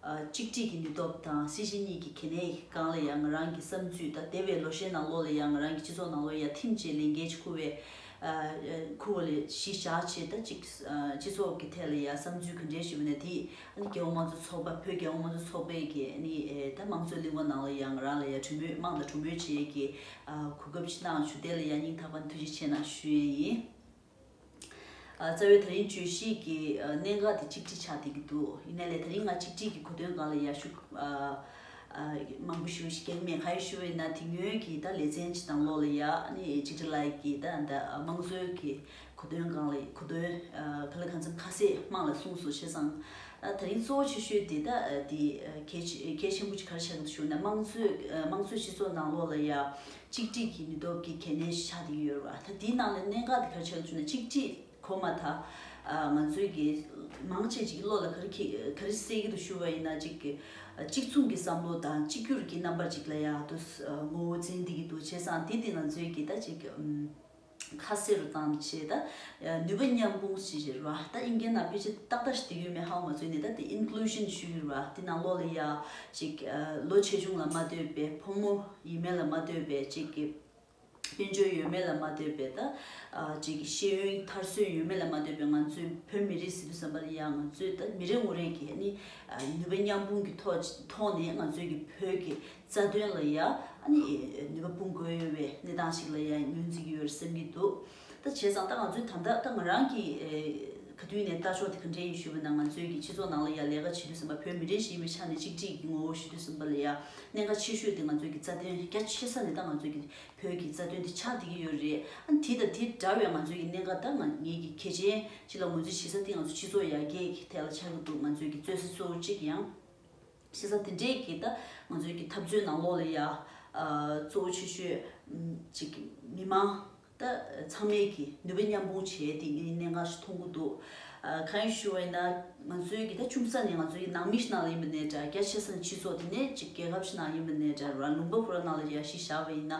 གཅིག་སྒྲིལ་གྱི་ནུས་སྟོབས་དང་སྲིད་གཞི་གཉིས་ཀྱི་གལ་གནད་གང་ལ་ཡང་ང་རང་གི་བསམ་ཚུད་དང་འདས་པའི་ལོ་ཤས་ནང་ལོགས་ལ་ཡང་ང་རང་གི་སྤྱི་ཚོགས་ནང་ལོ་ཡ་ཐིམ་བཅས་ལས་འགན་ཅི་འཁུར་བའི་འཁུར་བ་ལས་གཞི་བཞག་བྱས་ད་ཅིག་སྤྱི་ཚོགས་ཀྱི་ཐད་ལ་ཡང་བསམ་ཚུལ་གང་དྲན་ཞུས་པ་ནས་དེ་རྒྱལ་བོ་དམངས་གཙོ་ཚོགས་པ་བོད་རྒྱལ་བོ་དམངས་གཙོ་ཚོགས་པའི་གི་ནི་ད་དམངས་གཙོའི་གླིང་བ་ནང་ལ་ཡང་ང་རང་ལ་ཡང་གྲོས་མོལ་དམངས་དང་གྲོས་མོལ་བྱས་ཀྱི་གོ་སྐབས་ཅིག་གནང་ཞུ་དེ་ལ་ཡང་སྙིང་ཐག་པ་འཐུལ་ཅིག་ཆེ་གནང་ཞུ་ཡས་ཡིན། རྩ་བའི་ད་རིང་བརྗོད་གཞིས་ཀྱི་གནད་འགག་དེ་གཅིག་སྒྲིལ་བྱ་བསྡད་ཀྱི་འདུག་ཡིན་ན་ལས་ད་རིང་ང་གཅིག་སྒྲིལ་གྱི་གོ་དོན་གང་ལ་ཡར་ཞུ་མང་པོ་ཞུ་གེགས་མེད་ག་ཡོད་ཞུ་འོས་ན་དེ་ཉོན་གྱིས་ད་ལས་ཚན་གྱི་དང་ལོག་ལ་ཡ་ནི་གཅིག་སྒྲིལ་ལ་ཡི་གིས་ད་ད་དམངས་གཙོའི་གི་གོ་དོན་གང་ལ་གོ་དོན་ག་ལ་གང་འཚམས་ཁ་གསལ་དམངས་ལ་གསུངས་སོ་བྱས་ཙང་ད་རིང་གཙོ་བོ་ཆེ་ཤོས་དེ་ད་དེ་གལ་ཆེན་པོ་གཅིག་ག་རེ་བྱ་གི་འདུག་ཞུ་ན་དམངས་གཙོའི་དམངས་གཙོའི་སྤྱི་ཚོགས་ནང་ལོག་ལ་ཡ་གཅིག་སྒྲིག་གི་ནུས་སྟོབས་ཀྱི་གལ་གནད་ཆགས་ཏེ་ཡོད་རེད། ད་དེའི་ནང་ལས་གནད་འགག་གི་གལ་ཆེ་བ་བཅུ་ནི་གཅིག་སྒྲིག་གོ་མ་ཐག་ང་ཚོའི་གི་མང་ཆེ་གཅིག་བློ་ལ་ག་རེ་ཁེ་ག་རེ་སེ་གི་འདུག་ཞུ་བ་ཡིན་ན་གཅིག་གི་གཅིག་མཚུངས་ཀྱི་བསམ་བློ་དང་གཅིག་གྱུར་གྱི་རྣམ་པ་གཅིག་ལ་ཡག་ཏུ་ངོ་བོ་འཛིན་བསྡད་ཀྱི་འདུག་བྱས་ཙང་དེ་དེ་ང་ཚོའི་གི་ད་གཅིག་ཁ་སེ་རུ་དང་བཅས་ད་ནུས་པ་མཉམ་སྤུངས་བྱེད་ཀྱི་རེད་བ་ད་ཨིན་སྐད་ནང་ཕལ་ཆེར་ཏག་ཏག་ཞིག་དེ་ཡོད་མེད་ཧ་གོ་མ་ཚུལ་ནས་ད་དེ Inclusion ཞུ་ཡི་རེད་བ་དེ་ནང་ལོག་ལ་ཡ་ཅིག་ལོ་ཆེ་ཆུང་ལ་མ་ལྟོས་པའི་ཕོ་མོ་ཡིན་མིན་ལ་མ་ལྟོས་པའི་བཅས་ཀྱི་དཔལ་འབྱོར་ཡོད་མེད་ལ་མ་ལྟོས་པའི་ད་བཅས་ཀྱི་ཤེས་ཡོན་དར་སྲོལ་ཡོད་མེད་ལ་མ་ལྟོས་པའི་ང་ཚོའི་བོད་མི་རིགས་སི་ཏུ་བསམ་པ་ལ་ཡ་ང་ཚོས་ད་མི་རེ་ངོ་རེ་གྱི་ནི་ནུས་པ་མཉམ་སྤུངས་ཀྱི་ཐོག་ནས་ང་ཚོའི་ཀྱི་བོད་ཀྱི་རྩ་དོན་ལ་ཡང་ནུས་པ་སྤུངས་དགོས་ཡོད་པའི་གནས་སྟངས་ཤིག་ལ་ཡང་ངོས་འཛིན་གྱི་ཡོད་སེམས་ཀྱི་འདུག་ད་བྱས་ཙང་ད་ང་ཚོའི་ད་ལྟ་ང་རང་གིས་ག་དུས་ནས་ལྟ་ཕྱོགས་དེ་ག་འདྲའི་ཡིན་ཞུས་པ་ན་ང་ཚོའི་གི་སྤྱི་ཚོགས་ནང་ལ་ཡང་ལས་ཀ་བྱེད་དུས་ཟིན་པ་བོད་མི་རིགས་ཞིག་ཡིན་པའི་ཆ་ནས་གཅིག་སྒྲིལ་གྱི་ངོ་བོ་ཞུ་དུས་ཟིན་པ་ལ་ཡང་གནད་འགག་ཆེ་ཤོས་དེ་ང་ཚོའི་གི་རྩ་དོན་རྒྱ་ཆེ་ས་ནས་ད་ང་ཚོའི་གི་བོད་གི་རྩ་དོན་དེ་ཆགས་བསྡད་ཀྱི་ཡོད་རེད་དེ་དང་དེ་འདྲ་བའི་ང་ཚོའི་གི་གནད་འགག་ད་ང་ངས་གི་གལ་ཆེན་ཞིག་ལ་ངོས་འཛིན་བྱེད་ས་དེ་ང་ཚོའི་སྤྱི་ཚོགས་ཡར་རྒྱས་གི་ཐད་ལ་ཆགས་ཀྱི་འདུག་ང་ཚོའི་གི་རྩོད་ས་གཙོ་བོ་གཅིག་ཡང། བྱེད་ས་དེ་འདྲས་ཀྱི་ད་ང་ཚོའི་གི་འཐབ་རྩོད་ནང་ལོགས་ལ་ཡ་གཙོ་བོ་ཆེ་ཤོས་ཅིག་མི་མང་ད་ཚང་མས་གི་ནུས་པ་མཉམ་སྤུངས་བྱས་ཏེ་གི་གནད་འགག་ཞིག་མཐོང་གི་འདུག་གང་ཡིན་ཞུ་བས་ན་ང་ཚོའི་གི་ད་ཅུང་ཟ་ནས་ང་ཚོའི་གི་ནང་མི་ཞིག་ནང་ལ་ཡིན་པ་ནས་འདྲ་རྒྱ་ཆེ་ས་ནས་སྤྱི་ཚོགས་དེ་ནས་ཅིག་རྒྱལ་ཁབ་ཞིག་ནང་ཡིན་པ་ནས་འདྲ་རང་ལུང་པ་བུ་རང་ནང་ལ་ཡ་ཞིག་བཞག་པ་ཡིན་ན་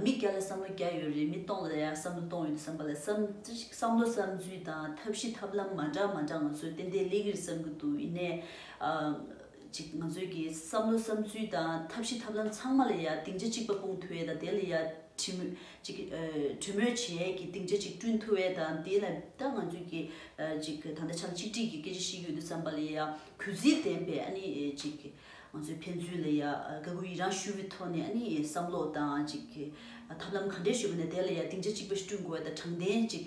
མི་བརྒྱ་ལ་བསམ་བློ་བརྒྱ་ཡོད་རེད་མི་སྟོང་ལ་ཡ་བསམ་བློ་སྟོང་ཡོད་བསམ་པ་ལ་བསམ་ཅི་ཞིག་བསམ་བློ་བསམ་ཚུལ་དང་ཐབས་ཤེས་ཐབས་ལམ་མ་འདྲ་མ་འདྲ་ང་ཚོས་ཏན་ཏན་གླེང་གི་རེད་བསམ་གི་འདུག་ཡིན་ནས། གཅིག་ང་ཚོའི་གི་བསམ་བློ་བསམ་ཚུལ་དང་ཐབས་ཤེས་ཐབས་ལམ་ཚང་མ་ལ་ཡང་སྡིངས་ཆ་གཅིག་པ་སྤུངས་ཐུ་བས་དང་དེ་ལ་ཡང་གྲི་མོས་གཅིག་གྲོས་མོས་བྱས་གི་སྡིངས་ཆ་གཅིག་བསྐྲུན་ཐུ་བས་དང་དེ་ལ་ད་ང་ཚོའི་གི་གཅིག་ད་ལྟ་ཆམ་གཅིག་སྒྲིག་གི་སྐད་ཆ་ཤིག་ཡོད་དུ་བསམ་པ་ལ་ཡང་གུས་བརྩི་ལྡན་པས་ཨ་ནི་གཅིག་ང་ཚོའི་ཕན་ཚུན་ལ་ཡང་དགའ་གུས་ཡི་རང་ཞུ་བའི་ཐོག་ནས་ཨ་ནི་བསམ་བློ་དང་གཅིག་ཐབས་ལམ་ག་འདྲས་ཞུས་པ་ནས་དེ་ལ་ཡང་སྡིངས་ཆ་གཅིག་པ་ཞིག་བསྐྲུན་དགོས་བས་དང་དྲང་བདེན་གཅིག་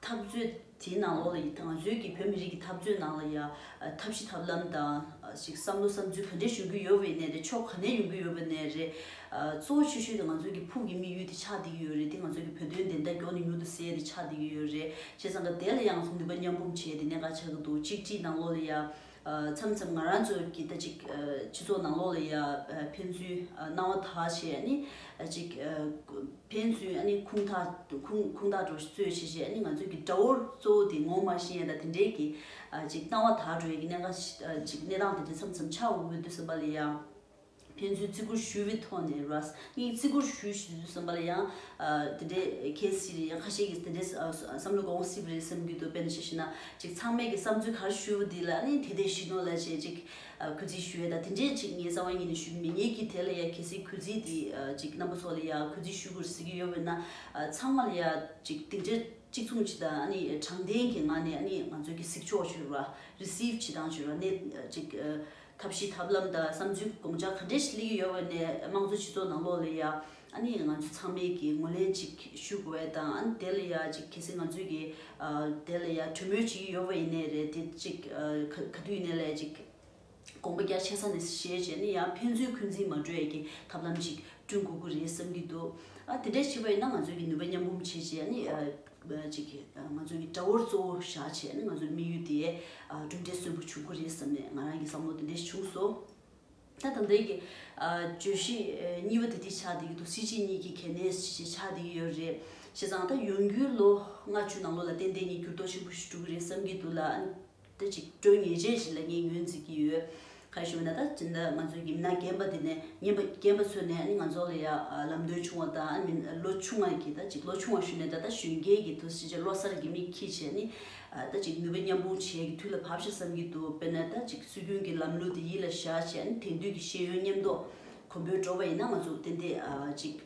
འཐབ་རྩོད་དེའི་ནང་ལོགས་ལ་ཡི་ཐང་རྩོད་ཀྱི་བོད་མི་རིགས་ཀྱི་འཐབ་རྩོད་ནང་ལ་ཡང་ཐབས་ཤེས་ཐབས་ལམ་དང་ཞིག་བསམ་བློ་བསམ་ཚུལ་ག་འདྲའི་ཞུ་གི་ཡོད་བའི་གནས་རེད་ཕྱོགས་ག་ནས་ཡོང་གི་ཡོད་པ་ནས་རེད། གཙོ་བོ་ཆོས་ཤུལ་དེ་ང་ཚོ་གི་ཕུགས་ཀྱི་དམིགས་ཡུལ་དེ་ཆགས་བསྡད་ཀྱི་ཡོད་རེད་དེ་ང་ཚོ་གི་བོད་དོན་བདེན་མཐའ་མགྱོགས་ནས་མྱུར་དུ་སེལ་དེ་ཆགས་བསྡད་ཀྱི་ཡོད་རེད་བྱས་ཙང་ཀ་དེ་ལ་ཡང་ང་ཚོ་ནུས་པ་མཉམ་འབུམ་བྱས་དེ་གནད་འགག་ཆགས་ཀྱི་འདུག་གཅིག་གཅིག་ནང་ལོགས་ལ་ཡང། མཚམས་མཚམས་ང་རང་ཚོ་གི་ད་ཅིག་སྤྱི་ཚོགས་ནང་ལོགས་ལ་ཡ་ཕན་ཚུན་སྣང་བ་དག་བྱས་ཡ་ནི་ཅིག་ཕན་ཚུན་ཡ་ནི་ཁུངས་དག་ཁུངས་དག་འགྲོ་བརྩོད་བྱེད་བྱེད་ཡ་ནི་ང་ཚོ་གི་དགྲ་བོ་གཙོ་བོ་དེ་ངོ་མ་ཤེས་ཡ་ད་དེ་འདྲའི་གི་ཅིག་སྣང་བ་དག་འགྲོ་ཡ་གི་གནད་འགག་ཅིག་གནས་སྟངས་དེ་འདྲ་མཚམས་མཚམས་ཆགས་འོང་གི་འདུག་བསམ་པ་ལ་ཡ། ཕན་ཚུན་བརྩི་བཀུར་ཞུ་བའི་ཐོག་ནས་རུ་ཨཱས་གཉིས་ཀྱིས་བརྩི་བཀུར་ཞུ་བཞིན་ཡོད་ཟེར་བ་ལ་ཡང། དེ་འདྲའི་གལ་སྲིད་རེད་ཡང་ཁ་ཤས་ཀྱིས་དེ་འདྲའི་བསམ་བློ་གོང་སྲིབ་རེད་བསམ་གྱི་འདུག་དཔེར་ན་ཅིག་བྱས་ན། ཅིག་ཚང་མས་ཀྱི་བསམ་ཚུལ་ག་རེ་ཞུས་པ་དེ་ལ་ནི་དེ་དེ་ཞིག་ནོ་ལ་ཅེས་ཅིག་གུས་བརྩི་ཞུ་ཡ་ད་དེ་འདྲའི་ཅིག་ངའི་རྩ་བ་ཉིད་ནས་ཞུ་གི་མེད་ངེད་ཀྱིས་དེ་ལ་ཡང་གལ་སྲིད་གུས་བརྩི་དེ་ཅིག་རྣམ་པ་ཚོ་ལ་ཡང་གུས་བརྩི་ཞུ་དགོས་ཟེར་གྱི་ཡོད་བས་ན། ཚང་མ་ལ་ཡང་ཅིག་དེ་འདྲའི་གཅིག་མཚུངས་བྱེད་སྟངས་ནི་དྲང་བདེན་གྱི་ངང་ནས་ནི་ང་ཚོས་ཀྱི་གཟིགས་ཕྱོགས་བྱེད་རུ་ཨཱ་རེ་སིབ་བྱེད་སྟངས་བྱེད་རུ་ཨཱ་ནས་ཅིག་ཐབས་ཤེས་ཐབས་ལམ་དང་བསམ་ཚུལ་དགོངས་འཆར་ག་འདྲས་ཤིག་སླེབས་ཀྱི་ཡོད་བས་ནས་དམངས་གཙོའི་སྤྱི་ཚོགས་ནང་ལོགས་ལ་ཡ་ཨ་ནི་ང་ཚོ་ཚང་མས་ཀྱི་ངོས་ལེན་ཅིག་ཞུགས་བས་དང་ཨ་ནི་དེ་ལ་ཡ་ཅིག་གལ་སྲིད་ང་ཚོས་ཀྱི་དེ་ལ་ཡ་གྲོས་མོལ་བྱེད་ཀྱི་ཡོད་བས་ཡིན་ནས་རེད་དེ་ཅིག་ག་ག་དུས་ཡིན་ནས་ལས་ཅིག་དགོངས་པ་རྒྱ་ཆེ་ས་ནས་བཞེས་བྱས་ནས་ཡ་ཕན་ཚུན་འཁོན་འཛིན་མ་གྲོལ་ཡ་ཀྱི་ཐབས་ལམ་ཅིག་བསྐྲུན་དགོས་ཀྱི་རེད་བསམ་གྱི་འདུག་ཨ་དེ་འདྲས་བྱེད་པ་ཡིན་ན་ང་ཚོས་ཀྱི་ནུས་པ་མཉམ་འབུམ་བྱས་རྗེས་ཨ་ནི། གཅིག་གིས་ང་ཚོའི་དགྲ་བོར་གཙོ་བོ་བཞག་བྱས་ནས་ང་ཚོའི་དམིགས་ཡུལ་དེ་གྲུབ་འབྲས་གསོན་པོ་བྱུང་གི་རེད་བསམ་ནས་ང་རང་གི་བསམ་བློ་དེ་འདྲས་བྱུང་སོང། ད་དང་དེང་གི་བརྗོད་གཞི་གཉིས་པ་དེ་དེ་ཆགས་བསྡད་ཀྱི་འདུག་སྲིད་སྤྱི་གཉིས་ཀྱི་གལ་གནད་ཞེས་ཆགས་བསྡད་ཀྱི་ཡོད་རེད། བྱས་ཙང་ད་ཡོང་རྒྱུའི་ལོ་ལྔ་བཅུ་ནང་ལོ་ལ་ཏན་ཏན་གྱི་འགྱུར་ལྡོག་ཆེན་པོ་ཞིག་འགྲོ་གི་རེད་བསམ་གྱི་འདུག་ལ། དུ་ཅིག་སྤྲོས་ངེས་ཅན་ཞིག་ལ་ངས་ངོས་འཛིན་གྱི་ཡོད། ག་ཞུ་ན་ད་ཅི་འདི་ང་ཚོའི་ཡིམ་ན་རྒན་པ་འདི་ནས་ངན་པ་རྒན་པ་ཚོས་ནས་ང་ཚོ་ལ་ཡ་ལམ་སྟོན་བྱུང་བ་དང་མིན་ལོ་ཆུང་བ་གྱིས་ད་ཅིག་ལོ་ཆུང་བ་ཞུ་ནས་ད་ལྟ་གཞོན་སྐྱེས་ཀྱི་དུས་ཕྱིས་ལོ་སར་གྱི་མིག་ཁྱི་བྱས་ནི་ད་ཅིག་ནུས་པ་མཉམ་སྤུངས་བྱེད་ཀྱི་དུས་ལ་བབས་ཤིག་བསམ་གྱི་འདུག་དཔེར་ན་ད་ཅིག་སྲོལ་རྒྱུན་གྱི་ལམ་ལུགས་དེ་ཡིད་ལ་བཞག་བྱས་ནི་དེང་དུས་ཀྱི་ཤེས་ཡོན་ཉམས་རྟོགས་གོམ་པོས་འགྲོ་བ་ཡིན་ན་ང་ཚོ་ཏན་ཏན་ཅིག།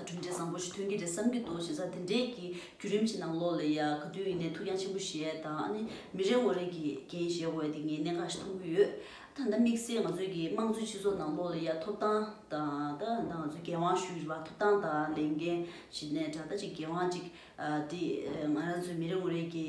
གྲུབ་འབྲས་བཟང་པོ་ཞིག་ཐོན་གྱི་རེད་བསམ་གྱི་འདུག་བྱས་ཙང་དེ་འདྲའི་གི་རྒྱུད་རིམ་གྱི་ནང་ལོགས་ལ་ཡ་ག་དུས་ཡིན་ནའི་ཐུགས་འགྱང་ཆེན་པོ་བཞེས་ཡས་དང་ཨ་ནི་མི་རེ་ངོ་རེ་གི་འགན་བཞེས་འོས་ཏེ་ངས་གནད་འགག་ཞིག་མཐོང་གི་ཡོད། ད་ད་དམིགས་བསལ་ང་ཚོའི་གི་དམངས་གཙོའི་སྤྱི་ཚོགས་ནང་ལོགས་ལ་ཡ་ཐོབ་ཐང་དང་ད་ད་ང་ཚོའི་འགན་དབང་ཞུ་ཡི་བ་ཐོབ་ཐང་དང་ལས་འགན་བཞེས་ནས་དྲ་ད་ཅིག་འགན་དབང་ཅིག་དེ་ང་རང་ཚོའི་མི་རེ་ངོ་རེ་གི་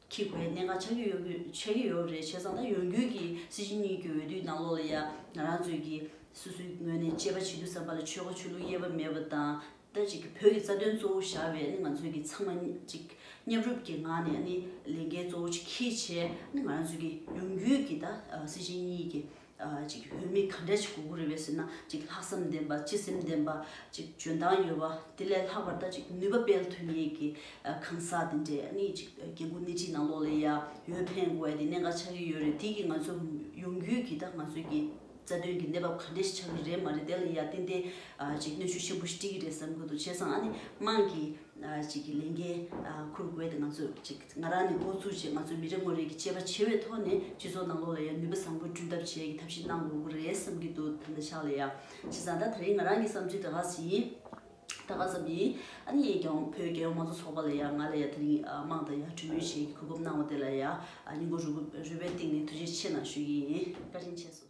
ཁྱི་གོས་གནད་འགག་ཆགས་ཀྱི་ཡོད་མོད་ཆགས་ཀྱི་ཡོད་རེད་བྱས་ཙང་ད་ཡོང་རྒྱུན་གྱི་སྲིད་སྤྱི་གཉིས་ཀྱི་འོས་བསྡུའི་ནང་ལོགས་ལ་ཡང་ང་རང་ཚོས་ཀྱི་སོ་སོའི་ངོས་ནས་དཔྱད་པ་བྱེད་རྒྱུ་བསམ་པ་ལ་ཆོལ་ཁ་ཆོས་ལུགས་དབྱེ་བ་མེད་པ་དང། ད་ཅིག་གི་བོད་ཀྱི་རྩ་དོན་གཙོ་བོ་བཞག་པའི་ང་ཚོས་ཀྱི་ཚང་མ་ཅིག་མཉམ་རུབ་ཀྱི་ངང་ནས་ལས་འགན་གཙོ་བོ་ཆེ་ཁྱི་བྱས་ང་རང་ཚོས་ཀྱི་ཡོང་རྒྱུན་གྱི་ད་སྲིད་སྤྱི་གཉིས་ཀྱི་ཅིག་བོད་མི་ག་འདྲས་ཅིག་གོ་གོ་རེད་བས་ཟེར་ན་ཅིག་ལྷག་བསམ་ལྡན་པ་སྤྱི་སེམས་ལྡན་པ་ཅིག་འཇོན་ཐང་ཡོད་པ་དེ་ལས་ལྷག་པར་ད་ཅིག་ནུས་པ་སྤེལ་ཐུབ་ངེས་ཀྱི་གང་ཟག་དེ་འདྲས་ནི་ཅིག་རྒྱལ་སྒོ་སྣེ་ཁྲིད་ནང་ལོགས་ལས་ཡ་ཡོད་ཕན་དགོས་བས་དེ་གནད་འགག་ཆགས་ཀྱི་ཡོད་རེད་དེ་གིས་ང་ཚོ་ཡོང་རྒྱུད་ཀྱི་ད་ང་ཚོའི་ཀྱི་རྩ་དོན་གྱི་གནས་བབ་ག་འདྲས་ཤིག་ཆགས་ཀྱི་རེད་མ་རེད་དེ་ལ་ཡ་ཏན་ཏན་ཅིག་གནོད་ཤུགས་ཆེན་པོ་ཞིག་སྤྲིད་ཀྱི་རེད་བསམ་དགོས་འདུག་བྱས་ཙང་ཨ་ནི་དམངས་ཀྱི་ཅིག་ལས་འགན་ཁུར་དགོས་དེ་ང་ཚོས་ཅིག། ང་རང་ནས་འགོ་བཙུགས་རྗེས་ང་ཚོའི་མི་རེ་ངོ་རེས་ཀྱིས་དཔྱད་པ་བྱས་བའི་ཐོག་ནས་སྤྱི་ཚོགས་ནང་ལོགས་ལ་ཡང་ནུས་པ་བཟང་པོས་བསྐྲུན་ཐབས་བྱེད་ཀྱི་ཐབས་ཤེས་གནང་དགོས་ཀྱི་རེད་བསམ་གྱི་འདུག་ད་ནི་ཕྱག་ལས་ཡག་བྱས་ཙང་ད་ད་རིང་ང་རང་གི་བསམ་ཚུལ་འདྲ་ག་ཟིན་འདྲ་ག་ཙམ་ཡིན་ཨ་ནི་ཡིན་ཀྱང་བོད་རྒྱལ་ཡོངས་མང་གཙོ་ཚོགས་པ་ལ་ཡང་ང་ལ་ཡང་ད་རིང་དམངས་དང་ཡང་གྲོས་མོལ་བྱེད་ཀྱི་གོ་སྐབས་གནང་བ་དེ་ལ་ཡང་སྙིང་པོ་རུས་པའི་གཏིང་ནས་ཐུགས་རྗེ་ཆེ་གནང་ཞུ་ཡི་ཡིན་བཀའ་དྲིན་ཆེ་སོ།